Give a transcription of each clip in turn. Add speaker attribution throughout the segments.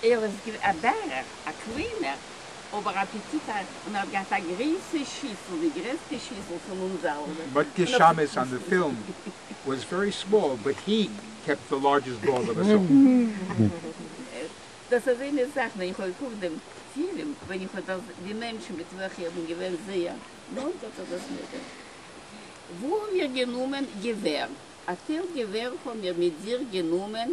Speaker 1: ער איז געווען א בערך, א קליינער, אבער אפעטיטרייך, און ער האט געהאט א גרויסע שיסל, די גרעסטע שיסל פון אונז אלע. But the shamus on
Speaker 2: the film was very small but he kept the largest bowl of us all.
Speaker 1: דאס איז איינע זאך ווען איך האב געקוקט דעם פילם, ווען איך האב דאס די מענטשן מיט וועלכע איך בין געווען זייער נאנט האט ער דאס מיר גע. וואו האמיר גענומען געווער? א טייל געווער האמיר מיט זיך גענומען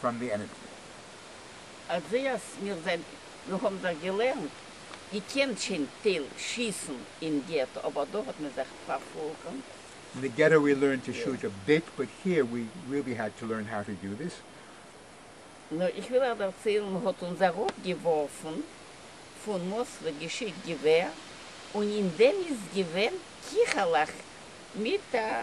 Speaker 2: פראם די ענערדזשי.
Speaker 1: אזוי אז מיר זענט, מיר האבן זיך געלערנט, געקענט שוין טייל שיסן אין געטא אבער דא האט מען זיך פארפולקאמט. אין די געטא
Speaker 2: ווי לערנט טו שוט א ביט באט היער ווי ריעלי האד טו לערן האו טו דו דיס.
Speaker 1: נו איך וויל אייך דערציילן מען האט אונז אראפ געווארפן פון מאסלע געשיקט געווער און אין דעם איז געווען קיכעלעך מיט א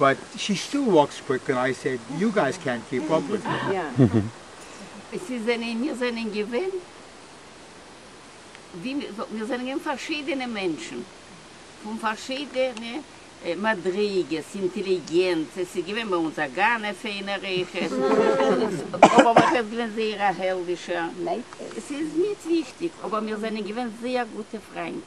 Speaker 2: באט שי סטיל וואקס קוויק און איי סעיד יו גייס קענט קיעפ אפ וויט מי. עס איז זענען מיר
Speaker 1: זענען געווען ווי מען זאגט מיר זענען געווען פארשידענע מענטשן פון פארשידענע מדריגות אינטעליגענץ עס איז געווען ביי אונז א גאנע פיינע ריחות אבער מח איז געווען זייער א העלדישער עס איז ניט וויכטיג אבער מיר זענען געווען זייער גוטע פריינט.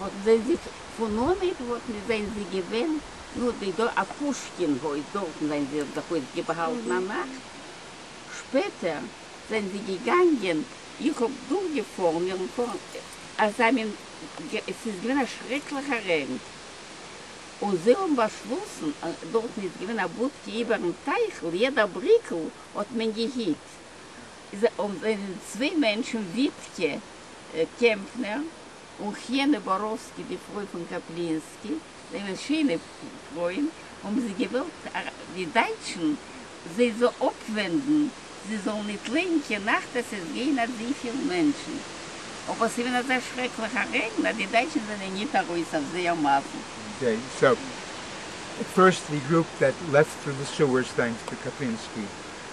Speaker 1: האָט זי זיך פֿון אָנהייב האָט ניט זיין זי געווען, נו, די דאָ אַ פּושקין הויז, דאָרטן זיין זי זיך אויסגעבאַהאַלטן אַ נאַכט. שפּעטער זיין זי געגאַנגען, איך האָב דורכגעפֿאָרן אירן פֿאָרן, אַז זיי מין גע, ס'איז געווען אַ שרעקלעכער רעגן, און זיי האָבן באַשלאָסן, דאָרטן איז געווען אַ בודקע איבערן טייכל, יעדע בריקל האָט מען געהיט, און זענען צוויי מענטשן, וויטקע קעמפֿנער און חנה באָראָווסקי, די פֿרױ פֿון קאַפּלינסקי, זײַנען שענע פֿרױען, האָבן זײ געװױלט די דײַטשן זײ זאָ אָפּװענדן, זײ זאָלן ניט לײגן קײן נאַכט, עס איז געװען אַזױ פֿיל מענטשן, אָבער ס'איז װען אַזאַ שרעקלעכער רעגן, אַז די דײַטשן זענען ניט אַרױס אױף זײ אַ מאַסן. זײ
Speaker 2: זאָגן, First we group that left through the sewers thanks to Kaplinsky,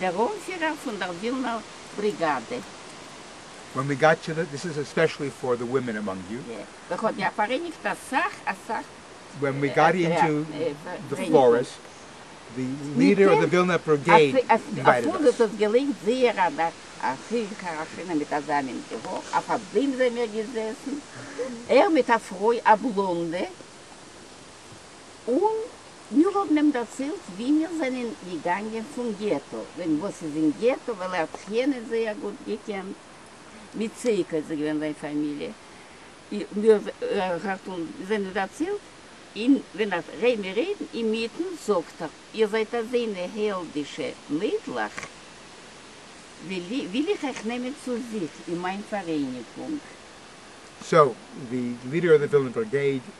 Speaker 1: דער אנפירער פון דער ווילנער בריגאדע. ווען
Speaker 2: מען גייט צו די. דיס איז עספעשעלי פאר די ווימען אמאנג יו. יא, דאך האט יא
Speaker 1: פאראייניגט אסאך אסאך. ווען מען גייט
Speaker 2: אינטו די פארעסט, די ליעדער אוו די ווילנער בריגעיד אינווייטעד אס. אפילו דאס האט געליינט זייער
Speaker 1: א דאך א חיל קאראשינער מיט אזא מין געהויך, אויף א בוים זעמיר געזעסן, ער מיט א פרוי א בלאנדע. און מיר האבן אים דערציילט ווי מיר זענען געגאנגען פון געטא, וועגן וואס איז אין געטא, ווייל ער האט זיך יענעם זייער גוט געקענט, מיט צעיק איז עס געווען זיין פאמיליע, האט אונז זענען דערציילט, און ווען ער רעד מיר רעדן אינמיטן זאגט ער, איר זייט אזענע העלדישע מיידלעך, וויל איך אייך נעמען צו זיך אין מיין פאראייניגונג.
Speaker 2: סאו ווי לידער אויף די ווילנע בריגעיד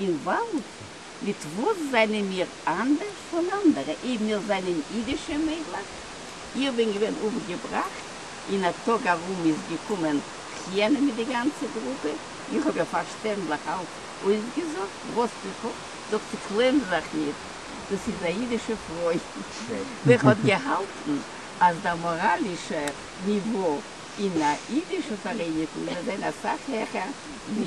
Speaker 1: אין וואלד, מיט וואס זענען מיר אנדערש פון אנדערע? אי מיר זענען אידישע מיידלעך? איך בין געווען אויפגעבראכט, אין א טאג ארום איז געקומען חיה'נע מיט די גאנצע גרופע, איך האב איר פארשטענדליך אלץ אויסגעזאגט וואס איך האב, זאגט זי קלעם זיך נישט, דאס איז א אידישע פרוי, ווער האט געהאלטן אז דער מאראלישער ניווא אין א אידישע פאראייניגונג וועט זיין אסאך העכער ווי